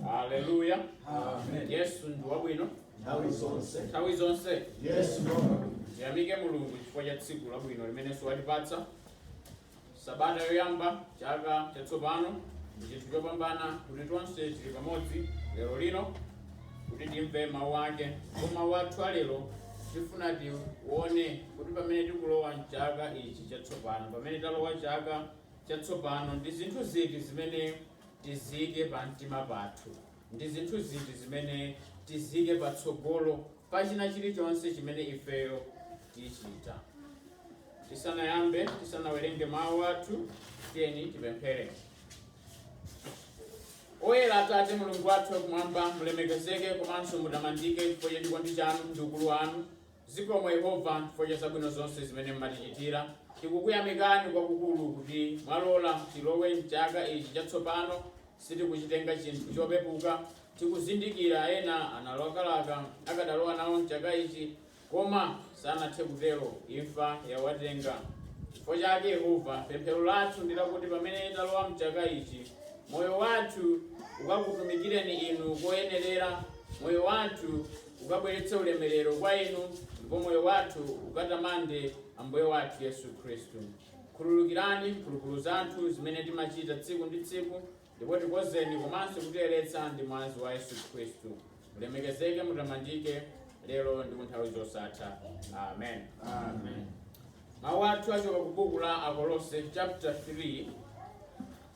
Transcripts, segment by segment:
haleluya Amen. yesu ndi wabwino Nthawi zonse. nthawi zonse Yesu Lord. tiyamike mulungu chifukwa cha tsiku labwino limenenso watipatsa sabata yoyamba chaka chatsopano ndi chinthu chopambana kuti tonse tili pamodzi lero lino kuti timve mawu ake ndipo mawu athu alero tifuna tione kuti pamene tikulowa mchaka ichi chatsopano pamene talowa chaka chatsopano? Ndi zinthu ziti zimene tiziike pa mtima pathu? Ndi zinthu ziti zimene tiziike patsogolo pa china chilichonse chimene ifeyo tichita? Tisanayambe, tisanawerenge mawu athu, tiyeni tipemphere. Oyera Atate Mulungu wathu wakumwamba, mulemekezeke komanso mutamandike chifukwa cha chikondi chanu ndi ukulu wanu. Zikomo Yehova chifukwa cha zabwino zonse zimene mumatichitira. Tikukuyamikani kwakukulu kuti mwalola tilowe m'chaka ichi chatsopano. Sitikuchitenga chinthu chopepuka. Tikuzindikira ena analakalaka akadalowa nawo m'chaka ichi, koma sanathe kutero, imfa yawatenga. Chifukwa chake, Yehova, pemphero lathu ndi lakuti pamene talowa m'chaka ichi, moyo wathu ukakutumikireni Inu koyenerera, moyo wathu ukabweretse ulemerero kwa Inu, ndipo moyo wathu ukatamande Ambuye wathu Yesu Khristu. Khululukirani mphulupulu zathu zimene timachita tsiku ndi tsiku, ndipo tikozeni komanso kutiyeretsa ndi mwazi wa Yesu Khristu. Mulemekezeke, mutamandike, lero ndi kunthawi zosatha. Amen. Amen. Mawu athu achoka ku buku la Akolose chapter 3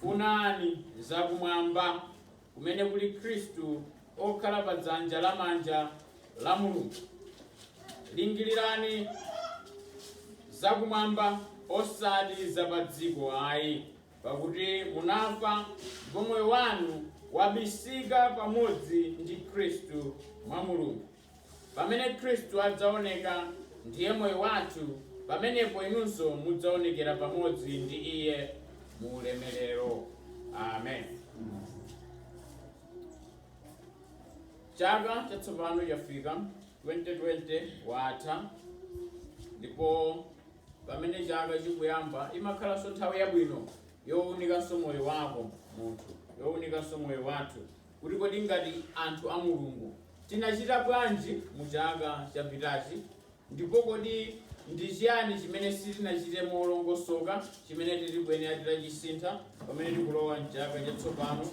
Funani za Kumwamba, kumene kuli Kristu okhala pa dzanja la manja la Mulungu. Lingirirani za Kumwamba, osati za pa dziko ayi, pakuti munafa, ndipo moyo wanu wabisika pamodzi ndi Kristu mwa Mulungu. Pamene Khristu adzaoneka, ndiye moyo wathu, pamenepo inunso mudzaonekera pamodzi ndi iye mu ulemerero. Amen. Chaka chatsopano chafika, 2020 watha, ndipo pamene chaka chikuyamba imakhalanso nthawi yabwino younikanso moyo wako munthu, younikanso moyo wathu kuti kodi ngati anthu a Mulungu tinachita bwanji mu chaka chapitachi, ndipo kodi ndi chiyani chimene sitinachite molongosoka chimene titikuyenera titachisintha pamene tikulowa m'chaka chatsopano.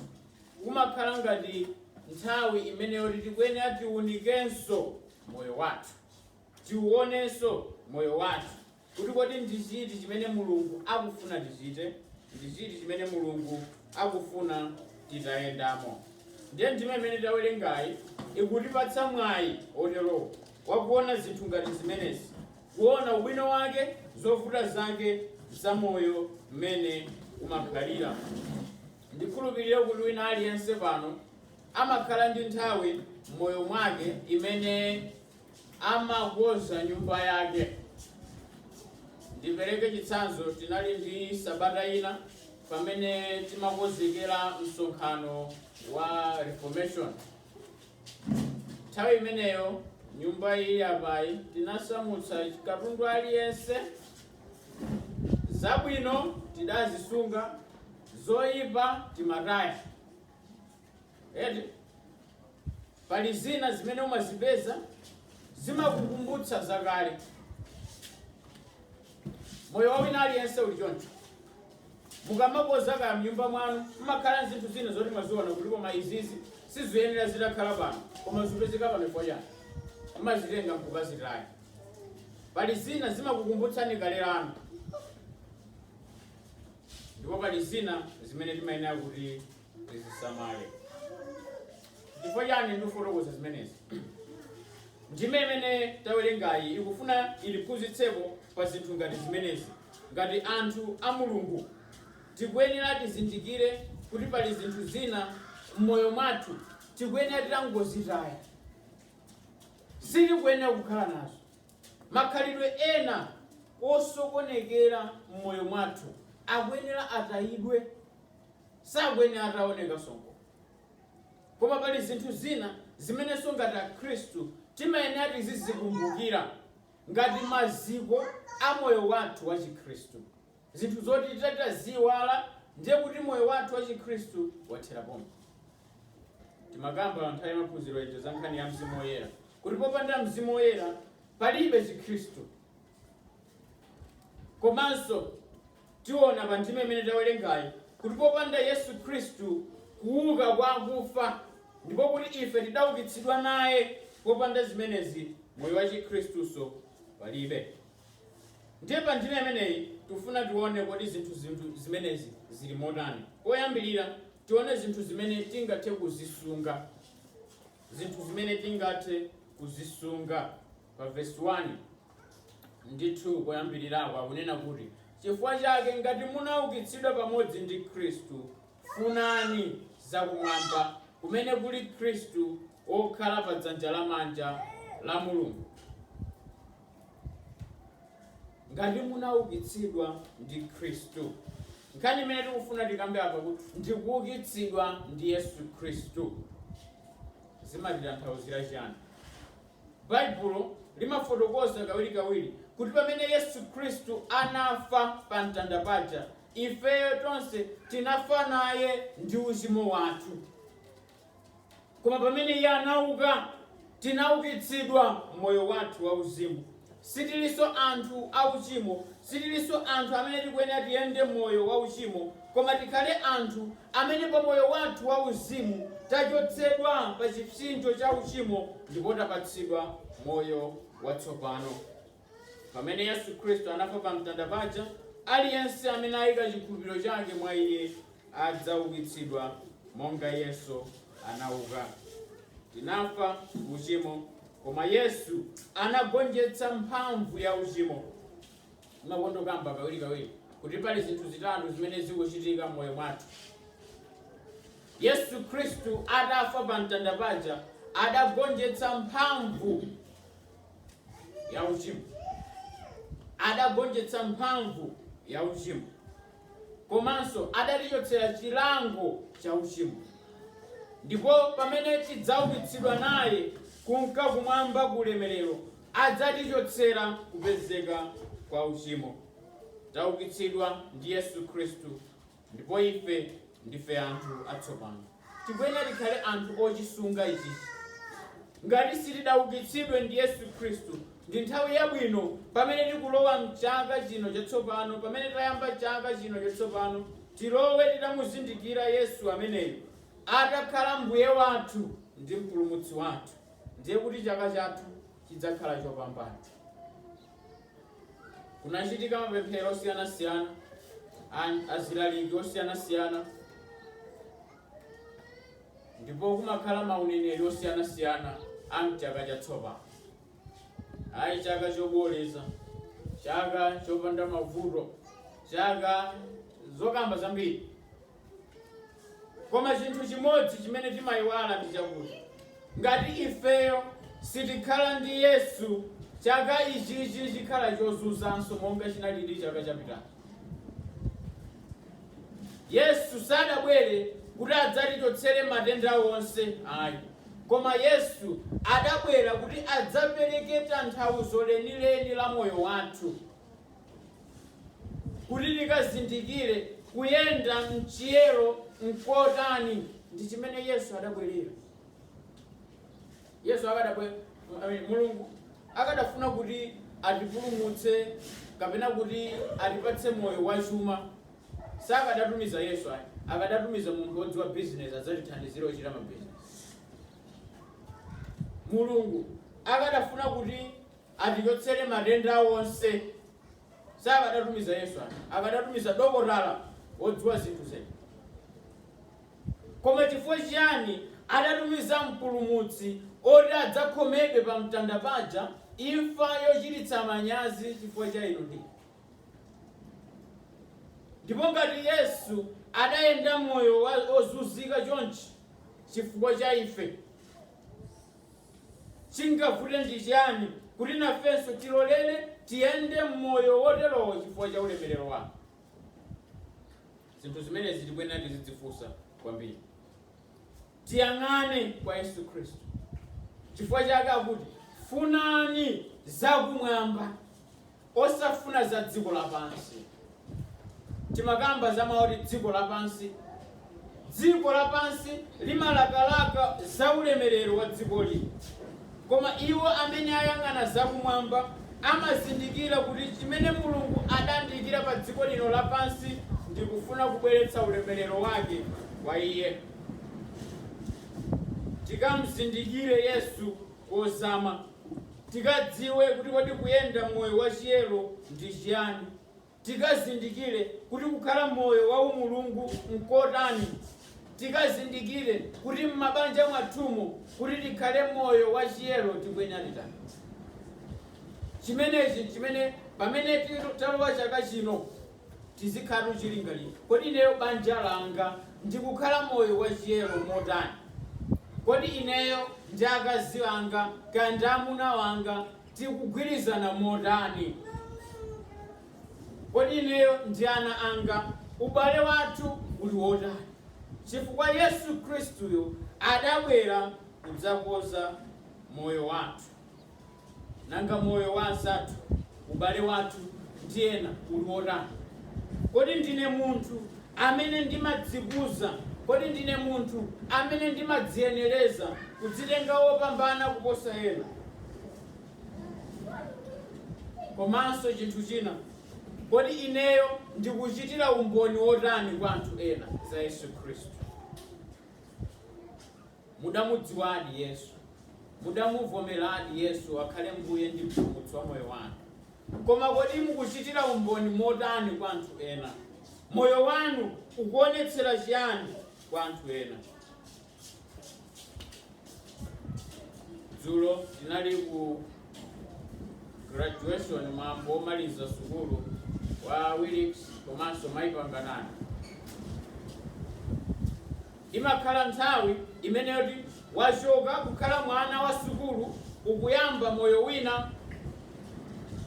Kumakhala ngati nthawi imene yoti tikuyenera tiunikenso moyo wathu, tiuonenso moyo wathu kuti kodi ndi chiti chimene Mulungu akufuna tichite ndi chiti chimene Mulungu akufuna titayendamo. Ndiye ndime imene tawerengayi ikutipatsa mwayi oterowo wakuona zinthu ngati zimenezi, kuona ubwino wake, zovuta zake za moyo mmene umakhalira. Ndikhulupirire kuti wina aliyense pano amakhala ndi nthawi m'moyo mwake imene amakonza nyumba yake. Ndipereke chitsanzo, tinali ndi sabata ina pamene timakonzekera msonkhano wa Reformation. Nthawi imeneyo nyumba iyi apayi tinasamutsa katundu aliyense, zabwino tidazisunga, zoyipa timataya. eti pali zina zimene umazipeza zimakukumbutsa zakale moyo wa wina aliyense uli choncho mukamakonza kaya mnyumba mwanu mmakhala zinthu zina zoti mwaziona kuti koma izizi siziyenera zitakhala pano koma zipezeka pano chifukwa chani mmazitenga mkukazitaya pali zina zimakukumbutsani kale lanu ndipo pali zina zimene timayenera kuti tizisamale chifukwa chani ndikufotokoza zimenezi ndime imene tawerengayi ikufuna itiphunzitseko pa zinthu ngati zimenezi ngati anthu a mulungu tikuyenera tizindikire kuti pali zinthu zina m'moyo mwathu tikuyenera titangozitaya sitikuyenera kukhala nazo makhalidwe ena osokonekera m'moyo mwathu akuyenera atayidwe Sakuyenera ataonekanso nkomwe. Koma pali zinthu zina zimenenso ngati Akhristu timayenera tizizikumbukira ngati maziko a moyo wathu wachikhristu. Zinthu zoti titati taziiwala ndiye kuti moyo wathu wachikhristu wathera pompo. Timakamba nthawi ya maphunziro ija za nkhani ya mzimu woyera kuti popanda mzimu woyera palibe chikhristu. Komanso Tiona pa ndime imene tawerengayi kuti popanda Yesu Khristu kuuka kwa akufa ndipo kuti ife tidaukitsidwa naye, popanda zimenezi moyo wa chikhristunso palibe. Ndiye pa ndime imeneyi tikufuna tione kodi zinthu zinthu zimenezi zili motani. Poyambirira tione zinthu zimene tingathe kuzisunga, zinthu zimene tingathe kuzisunga. pa vesi 1 ndi 2 koyambirirako akunena kuti chifukwa chake ngati munaukitsidwa pamodzi ndi khristu funani zakumwamba kumene kuli khristu wokhala pa dzanja lamanja la mulungu ngati munaukitsidwa ndi khristu nkhani imene tikufuna tikambe apa kuti ndikuukitsidwa ndi yesu khristu zimatitanthauzira chiyani Baibulo limafotokoza kawirikawiri kuti pamene Yesu Khristu anafa pa mtanda paja, ifeyo tonse tinafa naye ndi uchimo wathu. Koma pamene Iye anauka, tinaukitsidwa m'moyo wathu wauzimu. Sitilinso anthu a uchimo. Sitilinso anthu amene tikuyenera tiyende moyo wa uchimo, koma tikhale anthu amene pa moyo wathu wa uzimu tachotsedwa pa chipsinjo cha uchimo ndipo tapatsidwa moyo watsopano. Pamene Yesu Khristu anafa pa mtanda paja, aliyense amene ayika chikhulupiriro chake mwa Iye adzaukitsidwa monga Yesu anauka. Tinafa uchimo. Koma Yesu anagonjetsa mphamvu ya uchimo. Timakonda kukamba kawirikawiri kuti pali zinthu zitatu zimene zikuchitika m'moyo mwathu. Yesu Khristu adafa pa mtanda paja adagonjetsa mphamvu ya uchimo, adagonjetsa mphamvu ya uchimo. komanso adatichotsera chilango cha uchimo. Ndipo pamene tidzaukitsidwa naye kunka kumwamba ku ulemerero, adzatichotsera kupezeka kwa uchimo. Taukitsidwa ndi Yesu Khristu ndipo ife ndife anthu atsopano. tikuyenera tikhale anthu ochisunga ichi. Ngati sitidaukitsidwe ndi Yesu Khristu, ndi nthawi yabwino pamene tikulowa m'chaka chino chatsopano, pamene tayamba chaka chino chatsopano, tilowe titamuzindikira Yesu ameneyu, atakhala Mbuye wathu ndi Mpulumutsi wathu, ndiye kuti chaka chathu chidzakhala chopambana. Kunachitika mapemphero osiyanasiyana azilaliki osiyanasiyana ndipo kumakhala mauneneri osiyanasiyana a mchaka chatsopano ayi chaka choboleza chaka chopanda mavuto chaka zokamba zambiri Koma chinthu chimodzi chimene timayiwala ndi chakuti ngati ifeyo sitikhala ndi Yesu, chaka ichichi chikhala chozunzanso monga chinalili chaka chapitacho. Yesu sadabwere kuti adzatichotsere matenda onse ayi, koma Yesu adabwera kuti adzapereke tanthauzo lenileni la moyo wathu. Kuti tikazindikire kuyenda m'chiyero nkotani, ndi chimene Yesu adabwelera. Yesu akadabwe, I mean, Mulungu akadafuna kuti atipulumutse kapena kuti atipatse moyo wachuma, sakadatumiza Yesu ayi, akadatumiza munthu wodziwa bizinesi adzatithandizire kuchita mabizinesi. Mulungu akadafuna kuti. atichotsere matenda onse. Sakadatumiza Yesu ayi, akadatumiza dokotala wodziwa zinthu zedi. Koma chifukwa chiyani adatumiza Mpulumutsi oti adzakhomedwe pa mtanda paja, imfa yochititsa manyazi chifukwa cha inu ndi ine. Ndipo ngati Yesu adayenda moyo wa- wozunzika chonchi chifukwa cha ife Chingavute ndi chiyani kuti nafenso tilolere tiyende m'moyo woterowo chifukwa cha ulemerero wake? Zinthu zimenezi tikuyenera tizidzifunsa kwambiri. Tiyang'ane kwa Yesu Khristu. Chifukwa chake akuti, Funani zakumwamba. Osafuna za dziko lapansi. Timakamba za mau oti dziko lapansi. Dziko lapansi limalakalaka za ulemerero wa dziko lino. Koma iwo amene ayang'ana za kumwamba amazindikira kuti chimene Mulungu adandiikira pa dziko lino lapansi ndi kufuna kubweretsa ulemerero wake kwa iye. Tikamzindikire Yesu kozama. tikadziwe kuti kodi kuyenda moyo wa chiyero ndi chiyani, tikazindikire kuti kukhala moyo wa umulungu n'kotani, tikazindikire kuti m'mabanja mwathumo kuti tikhale moyo wa chiyero tikuyenera titani. Chimenechi n'chimene pamene talowa chaka chino. Tizikhalatu chilingalire, Kodi ineyo, banja langa ndikukhala moyo wachiyero motani? Kodi ineyo ndi akazi anga kaya ndi amuna anga tikugwirizana motani? Kodi ineyo ndi ana anga ubale wathu uli wotani? Chifukwa Yesu Khristuyo adabwera kudzakonza moyo wathu. Nanga moyo wa anzathu, ubale wathu ndi ena uli wotani? Kodi ndine munthu amene ndimadzikuza? Kodi ndine munthu amene ndimadziyenereza kudzitenga wopambana kuposa ena? Komanso chinthu china, kodi ineyo ndikuchitira umboni wotani kwa anthu ena za Yesu Khristu? Mudamudziwadi Yesu, mudamuvomeradi Yesu akhale Mbuye ndi Mpulumutsi wa moyo wanu, koma kodi mukuchitira umboni motani kwa anthu ena? Moyo wanu ukuonetsera chiyani kwa anthu ena? Dzulo tinali ku graduation mwambo womaliza sukulu wa Willix komanso Mai Panganani. Imakhala nthawi imene yoti wachoka kukhala mwana wa sukulu ukuyamba moyo wina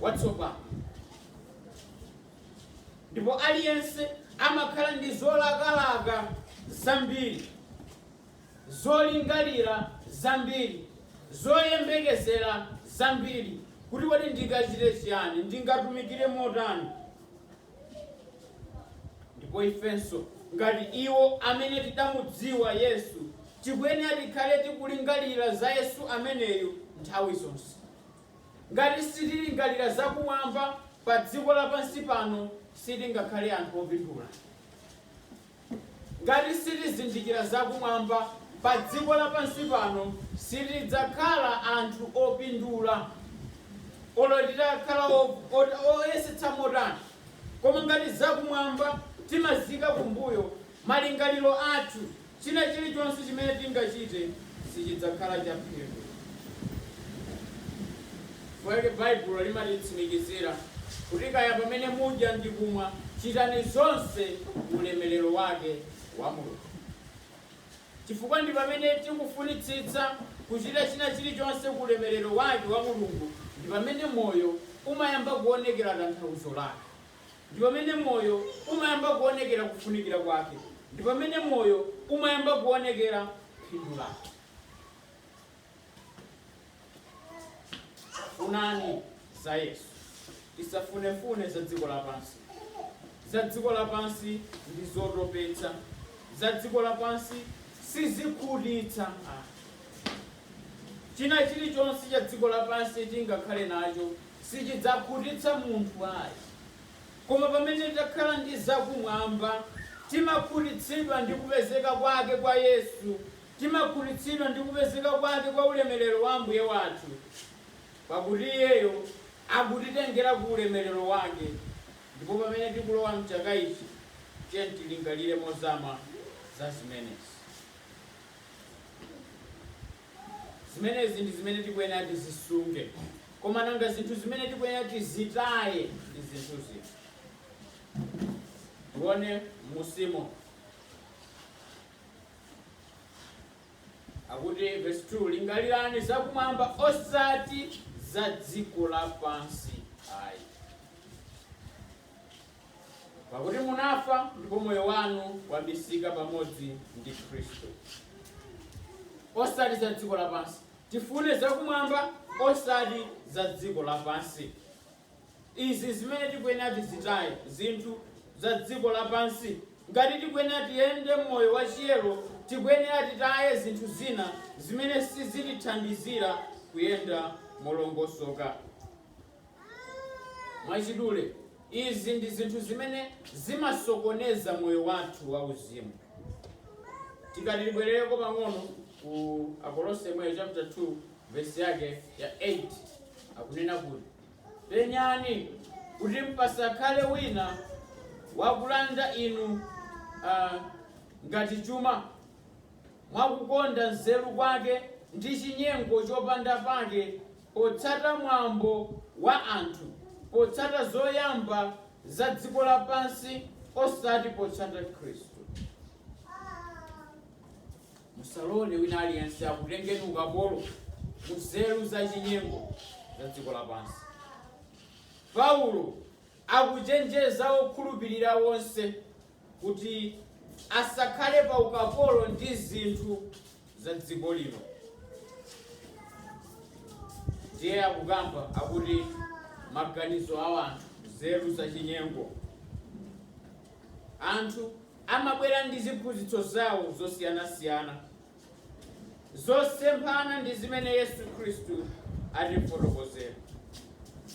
watsopano. Ndipo aliyense amakhala ndi zolakalaka zambiri, zolingalira zambiri, zoyembekezera zambiri, kuti kodi ndingachite chiyani? Ndingatumikire motani? Ndipo ifenso, ngati iwo amene tidamudziwa Yesu, tikuyenera tikhale tikulingalira za Yesu ameneyo nthawi zonse. Ngati sitilingalira za kumwamba pa dziko lapansi pano, sitingakhale anthu opindula. Ngati sitizindikira za kumwamba, pa dziko lapansi pano sitidzakhala anthu opindula, olo titakhala oyesetsa motani. Koma ngati za kumwamba timaziika kumbuyo, malingaliro athu, china chilichonse chimene tingachite, sichidzakhala chaphindu. Chifukwa chake Baibulo limatitsimikizira kuti kaya pamene mudya ndi kumwa, chitani zonse ku ulemerero wake wa Mulungu. Chifukwa ndi pamene tikufunitsitsa kuchita china chilichonse ku ulemerero wake wa Mulungu ndi pamene moyo umayamba kuonekera tanthauzo lake. ndi pamene moyo umayamba kuonekera kufunikira kwake, ndi pamene moyo umayamba kuonekera phindu lake. Funani za Yesu, tisafunefune za dziko lapansi. Za dziko lapansi ndi zotopetsa, za dziko lapansi sizikhutitsa. China chilichonse cha dziko lapansi tingakhale nacho sichidzakhutitsa munthu ayi. Koma pamene takhala ndi zakumwamba, timakhutitsidwa ndi kupezeka kwake kwa Yesu, timakhutitsidwa ndi kupezeka kwake kwa ulemerero wa Ambuye wathu, pakuti Iyeyo akutitengera ku ulemerero wake. Ndipo pamene tikulowa m'chaka ichi, tiyeni tilingalire mozama za zimenezi. Zimenezi ndi zimene tikuyenera tizisunge. Koma nanga zinthu zimene tikuyenera tizitaye ndi zinthu ziti? Tione m'munsimu. Akuti vesi 2, Lingalirani zakumwamba osati za dziko lapansi ayi. Pakuti munafa ndipo moyo wanu wabisika pamodzi ndi Khristu. Osati za dziko lapansi, tifune zakumwamba, osati za dziko lapansi. Izi zimene tikuyenera tizitaye zinthu za dziko lapansi. Ngati tikuyenera tiyende moyo wa chiyero, tikuyenera titaye zinthu zina zimene sizitithandizira kuyenda molongosoka. Mwachidule, izi ndi zinthu zimene zimasokoneza moyo wathu wauzimu. Tikati tibwerereko pang'ono ku Akolose yemweyo chapter 2 verse yake ya 8 akunena kuti penyani kuti pasakhale wina wakulanda inu ah, ngati chuma mwakukonda nzeru kwake ndi chinyengo chopanda pake potsata mwambo wa anthu, potsata zoyamba za dziko lapansi osati potsata Khristu. Musalole wina aliyense akutengeni ukapolo ku nzeru za chinyengo za dziko lapansi. Paulo Akuchenjeza okhulupirira onse kuti asakhale pa ukapolo ndi zinthu za dziko lino. Ndiye akukamba akuti maganizo a wanthu, nzeru za chinyengo. Anthu amabwera ndi ziphunzitso zawo zosiyanasiyana. zosemphana ndi zimene Yesu Khristu atifotokozera.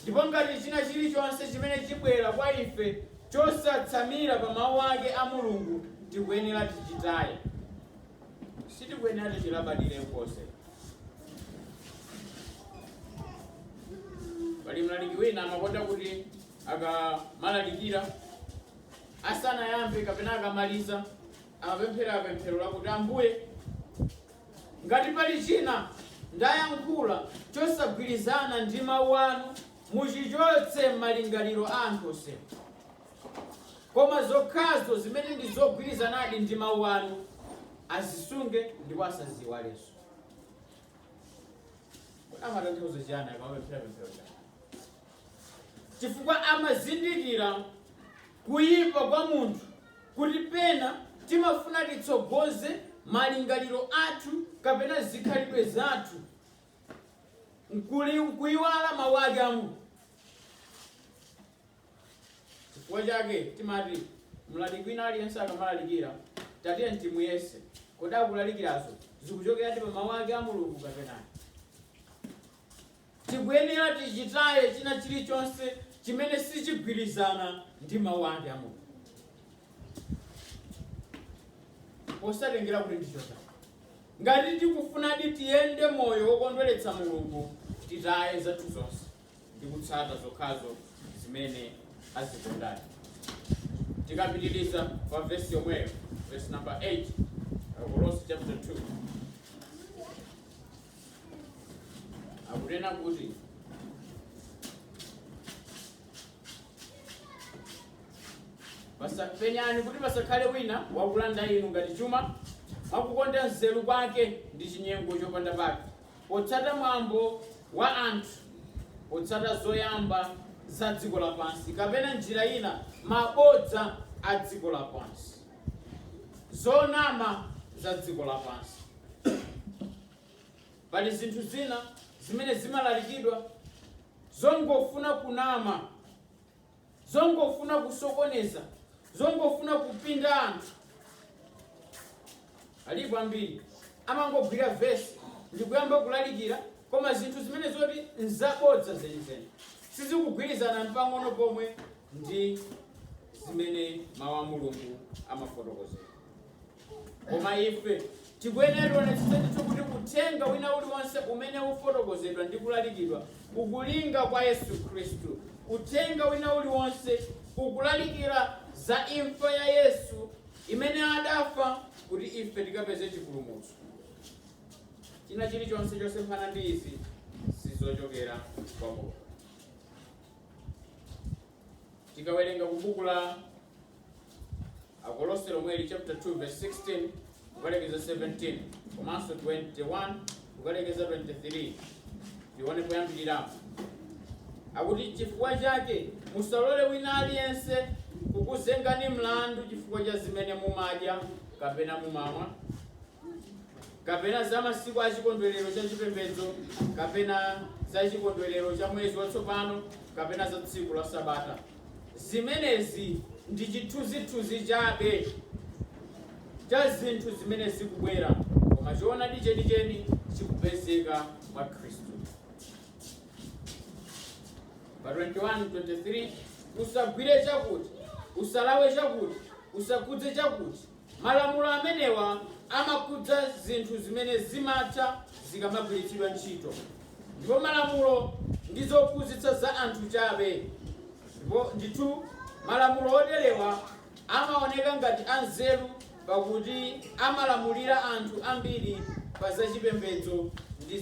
Ndipo ngati china chilichonse chimene chibwera kwa ife chosatsamira pa mawu ake a Mulungu tikuyenera tichitaye. Sitikuyenera tichilabadire konse. Pali mlaliki wina amakonda kuti akamalalikira asanayambe kapena akamaliza Amapemphera pemphero lakuti, Ambuye, ngati pali china ndayankhula chosagwirizana ndi Mawu Anu, muchichotse m'malingaliro a anthu onse. Koma zokhazo zimene ndi zogwirizanadi ndi Mawu Anu, azisunge ndipo asaziiwalenso. Kodi amatanthauza chiyani akamapemphera pemphero limeneli? chifukwa amazindikira kuyipa kwa munthu kuti pena timafuna titsogoze malingaliro athu kapena zikhalidwe zathu nkuyiwala mawu ake a Mulungu chifukwa chake timati mlaliki wina aliyense akamalalikira tatiye timuyese kodi akulalikirazo zikuchokeradi pa mawu ake a mulungu kapena ayi? Tikuyenera tichitaye china chilichonse chimene sichigwirizana ndi mawu ake a Mulungu, posatengera kuti ndichotani. Ngati tikufunadi tiyende moyo wokondweretsa Mulungu, titaye zathu zonse ndi kutsata zokhazo zimene azikondadi. Tikapitiriza pa vesi yomweyo, vesi namba 8, Akolose chapter 2. akunena kuti penyani kuti pasakhale wina wakulanda inu ngati chuma mwakukonda nzeru kwake ndi chinyengo chopanda pake potsata mwambo wa anthu potsata zoyamba za dziko lapansi kapena njira ina mabodza a dziko lapansi zonama za dziko lapansi. Pali zinthu zina zimene zimalalikidwa zongofuna kunama, zongofuna kusokoneza, zongofuna kupinga anthu. Alipo ambiri amangogwira verse ndikuyamba kulalikira koma zinthu zimene zoti nzabodza zenizeni sizikugwirizana mpang'ono pomwe ndi zimene mau a Mulungu amafotokozera. Koma ife tikuyenera tionetsetse ndithu kuti uthenga wina uliwonse umene ukufotokozedwa ndi kulalikidwa ukulinga kwa Yesu Khristu. Uthenga wina uliwonse ukulalikira za imfa ya Yesu imene adafa kuti ife tikapeze chipulumutso. China chilichonse chosemphana ndi izi sizochokera kwa Mulungu. Tikawerenga ku buku la Akolose lomweli chapter 2 verse 16 kukalekeza 17 komanso 21 kukalekeza 23 tione poyambirirapo akuti chifukwa chake musalole wina aliyense kukuzengani mlandu chifukwa cha zimene mumadya kapena mumamwa kapena za masiku a chikondwerero cha chipembedzo kapena za chikondwerero cha mwezi watsopano kapena za tsiku la sabata Zimenezi ndi chithunzithunzi chabe cha zinthu zimene zikubwera, koma choonadi chenicheni chikupezeka mwa Khristu. Pa 21, 23 Usagwire chakuti, usalawe chakuti, usakhudze chakuti. Malamulo amenewa amakhudza zinthu zimene zimatha zikamagwiritsidwa ntchito, ndipo malamulo ndi zophunzitsa za anthu chabe, ndipo, ndithu, malamulo oterewa amaoneka ngati anzeru pakuti amalamulira anthu ambiri pa za chipembedzo ndi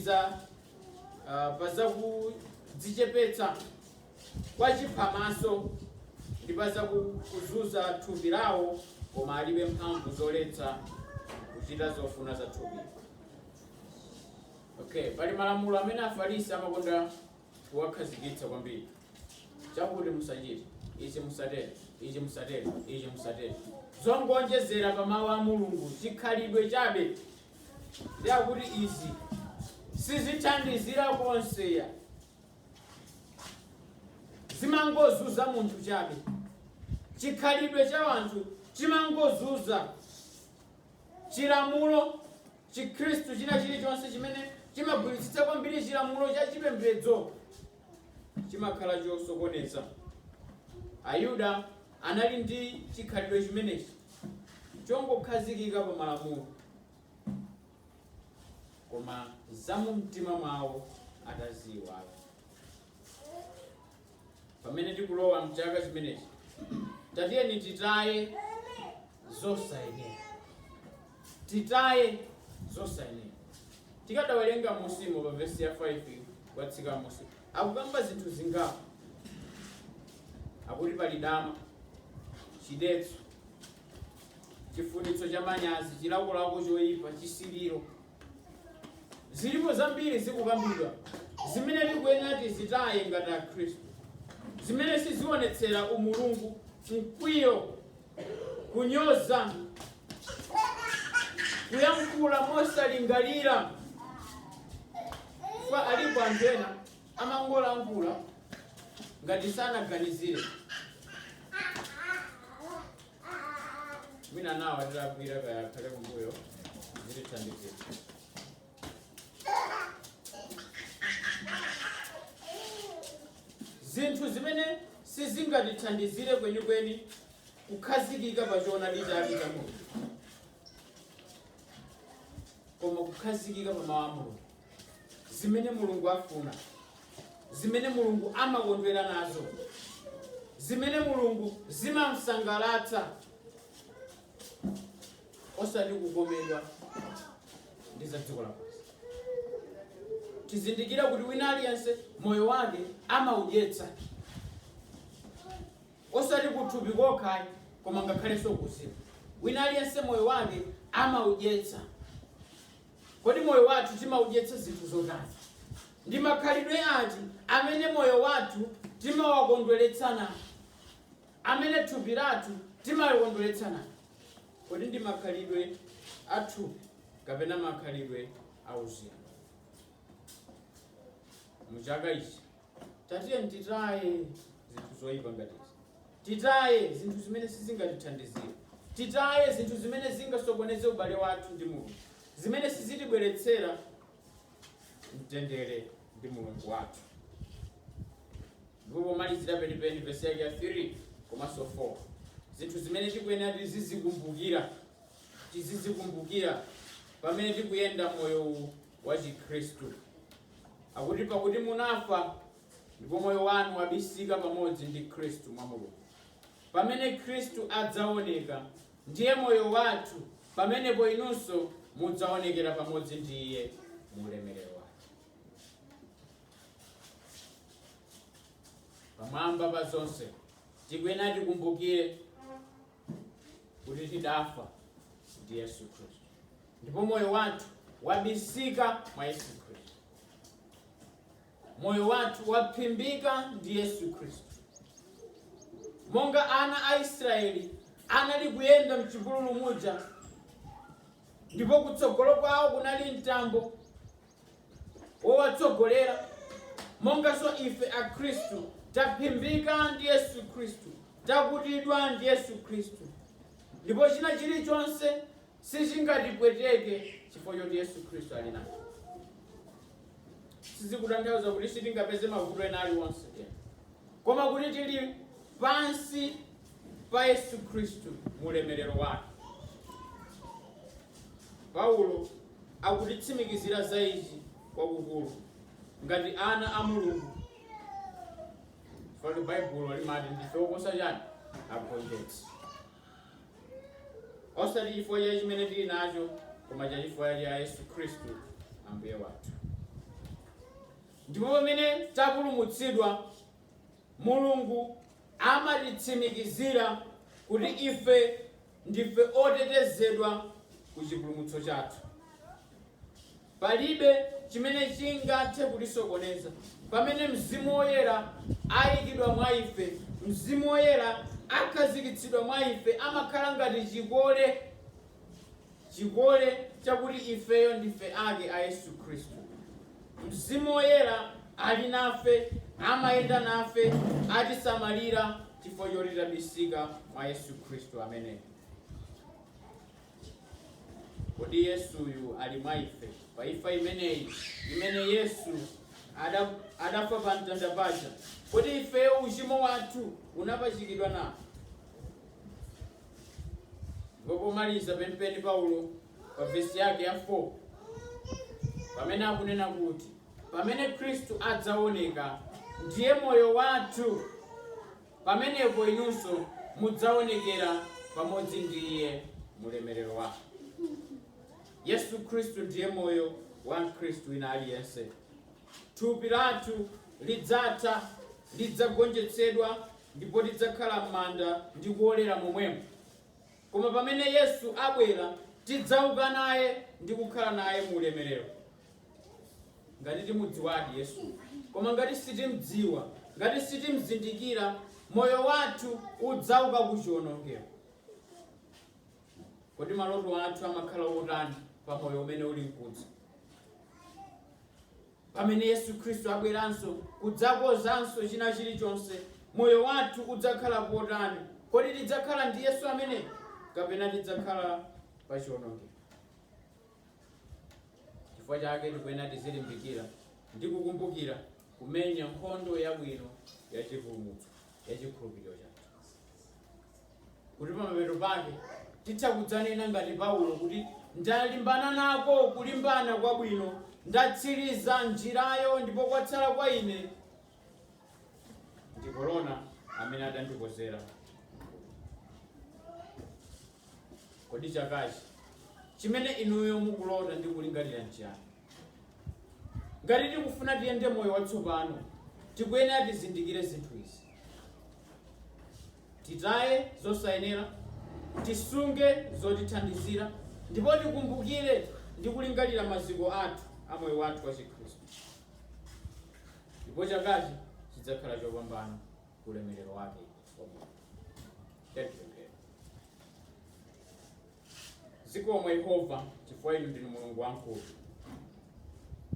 pa za kudzichepetsa kwa chiphamaso ndi pa za kuzunza thupi lawo, koma alibe mphamvu zoletsa kuchita zofuna za thupi. Okay, pali malamulo amene Afarisi amakonda kuwakhazikitsa kwambiri chakuti musachite ichi musatere ichi musatere ichi musatere zongonjezera pa mawu a mulungu chikhalidwe chabe ndiye akuti izi sizithandizira konse ayi zimangozunza munthu chabe chikhalidwe cha wanthu chimangozunza chilamulo chikhristu china chilichonse chimene chimagwiritsitsa kwambiri chilamulo cha chipembedzo chimakhala chosokoneza ayuda anali ndi chikhalidwe chimenechi chongokhazikika pa malamulo koma zamumtima mwawo ataziyiwala. Pamene tikulowa mchaka chimenechi, tatiyeni titaye zosayenera, titaye zosayenera. Tikadawerenga munsimo pa vesi ya 5 kutsika munsimo, akukamba zinthu zingapo, akuti pali dama, chidetso, chifunitso cha manyazi chilakolako choyipa chisiliro zilipo zambiri zikukambidwa zimene tikuyenera tizitaye ngati akhristu zimene sizionetsera umulungu mkwiyo kunyoza kuyankhula mosalingalira kwa alipo anthu ena amangolankhula ngati sanaganizire mwina nawo atilakwira taya khalidwe kumbuyo zitithandizira zinthu zimene sizingatithandizire kwenikweni kukhazikika pa choonadi chake cha mulungu koma kukhazikika pa mawu a mulungu zimene Mulungu afuna, zimene Mulungu amakondwera nazo, zimene Mulungu zimamsangalatsa, osati kukomedwa ndi za dziko lapansi. Tizindikira kuti wina aliyense moyo wake amaudyetsa osati kuthupi kokha koma ngakhalenso kuzimu. Wina aliyense moyo wake amaudyetsa Kodi moyo wathu timaudyetsa zinthu zotani? Ndi makhalidwe ati amene moyo wathu timawakondweretsa nawo? Amene thupi lathu timalikondweretsa nawo? Kodi ndi makhalidwe a thupi kapena makhalidwe a uzimu? Mu chaka ichi. tatiyeni titaye zinthu zoyipa ngati izi titaye zinthu zimene sizingatithandizire titaye zinthu zimene zingasokoneze ubale wathu ndi mulungu zimene sizitibweretsera mtendere ndi mulungu wathu ndipo pomalizira penipeni vesi yake ya 3 komanso 4 zinthu zimene tikuyenera tizizikumbukira tizizikumbukira pamene tikuyenda moyo uwu wa Chikhristu. Akuti, pakuti munafa, ndipo moyo wanu wabisika pamodzi ndi Khristu mwa Mulungu. Pamene Khristu adzaoneka, ndiye moyo wathu, pamenepo inunso mudzaonekera pamodzi ndi iye mu ulemerero wake. pamwamba pa zonse tikuyenera tikumbukire kuti tidafa ndi yesu khristu ndipo moyo wathu wabisika mwa yesu khristu moyo wathu waphimbika ndi yesu khristu monga ana a israeli anali kuyenda mchipululu muja ndipo kutsogolo kwawo kunali mtambo wowatsogolera, monganso ife Akhristu taphimbika ndi Yesu Khristu, takutidwa ndi Yesu Khristu, ndipo china chilichonse sichingatipweteke chifukwa choti Yesu Khristu ali nafe. Sizikutanthauza kuti sitingapeze mavuto ena aliwonse ayi, koma kuti tili pansi pa Yesu Khristu mu ulemerero wake. Paulo akutitsimikizira za ichi kwakukulu, ngati ana a Mulungu, chifukwa Baibulo limati ndife oposa chani agonjetsi, osati chifukwa cha chimene tili nacho, koma cha chifukwa cha Yesu Khristu Ambuye wathu. Ndipo pamene tapulumutsidwa, Mulungu amatitsimikizira kuti ife Ndife otetezedwa ku chipulumutso chathu. Palibe chimene chingathe kutisokoneza pamene Mzimu Woyera aikidwa mwa ife. Mzimu Woyera akhazikitsidwa mwa ife amakhala ngati chikole, chikole chakuti ifeyo ndife ake a Yesu Khristu. Mzimu Woyera ali nafe, amayenda nafe, atisamalira chifukwa choti tabisika mwa Yesu Khristu ameneyo. Kodi Yesuyu ali mwa ife? Pa imfa imeneyi imene Yesu adafa pa mtanda paja, kodi ifeyo uchimo wathu unapachikidwa nawo? Ndipo pomaliza penipeni Paulo pa vesi yake ya 4 pamene akunena kuti pamene Khristu adzaoneka ndiye moyo wathu, pamenepo inunso mudzaonekera pamodzi ndi iye mulemerero wake. Yesu Khristu ndiye moyo wa Mkhristu wina aliyense. Thupi lathu lidzatha, lidzagonjetsedwa ndipo lidzakhala m'manda ndi kuolera momwemo. Koma pamene Yesu abwera, tidzauka naye ndi kukhala naye mu ulemerero, ngati timudziwadi Yesu. Koma ngati sitimdziwa, ngati sitimzindikira, moyo wathu udzauka ku chionongeko. Kodi maloto athu amakhala otani pa moyo umene uli mkudza? Pamene Yesu Khristu abweranso kudzakozanso china chilichonse, moyo wathu udzakhala potani? Kodi tidzakhala ndi Yesu amene kapena tidzakhala pa chionongeko? Chifukwa chake tikuyenera tizilimbikira ndi kukumbukira kumenya nkhondo yabwino ya chipulumutso ya chikhulupiriro chathu. kuti pamapeto pake titha kudzanena ngati Paulo kuti, Ndalimbana nako kulimbana kwabwino, ndatsiriza njirayo, ndipo kwatsala kwa ine ndi korona amene adandikonzera. Kodi chakachi chimene inuyo mukulota ndi kulingalira nchiyani? Ngati tikufuna tiyende moyo watsopano, tikuyenera tizindikire zinthu izi. Titaye zosayenera, tisunge zotithandizira, ndipo tikumbukire ndi kulingalira maziko athu a moyo wathu wachikhristu, ndipo chakachi chidzakhala chopambana ku ulemerero wake wa Mulungu. Tiyeni tipemphere. Zikomo, Yehova, chifukwa inu ndinu Mulungu wamkulu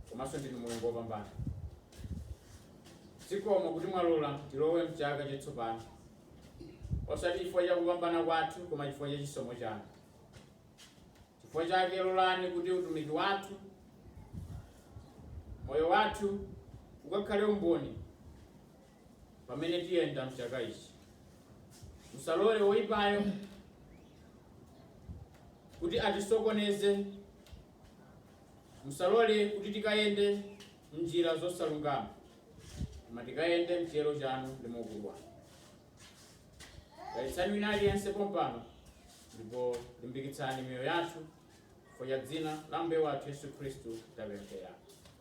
komanso ndinu Mulungu wopambana. Zikomo kuti mwalola tilowe m'chaka chatsopano, osati chifukwa cha kupambana kwathu, koma chifukwa cha chisomo chanu. Chifukwa chake lolani kuti utumiki wathu, moyo wathu, ukakhale umboni pamene tiyenda mchaka ichi. Musalole woipayo kuti atisokoneze, musalole kuti tikayende m'njira zosalungama, koma tikayende mchiyero chanu ndi mu ukulu wanu. Dalitsani wina aliyense pompano ndipo limbikitsani miyoyo yathu chifukwa cha dzina la Ambuye wathu Yesu Khristu tapemphera.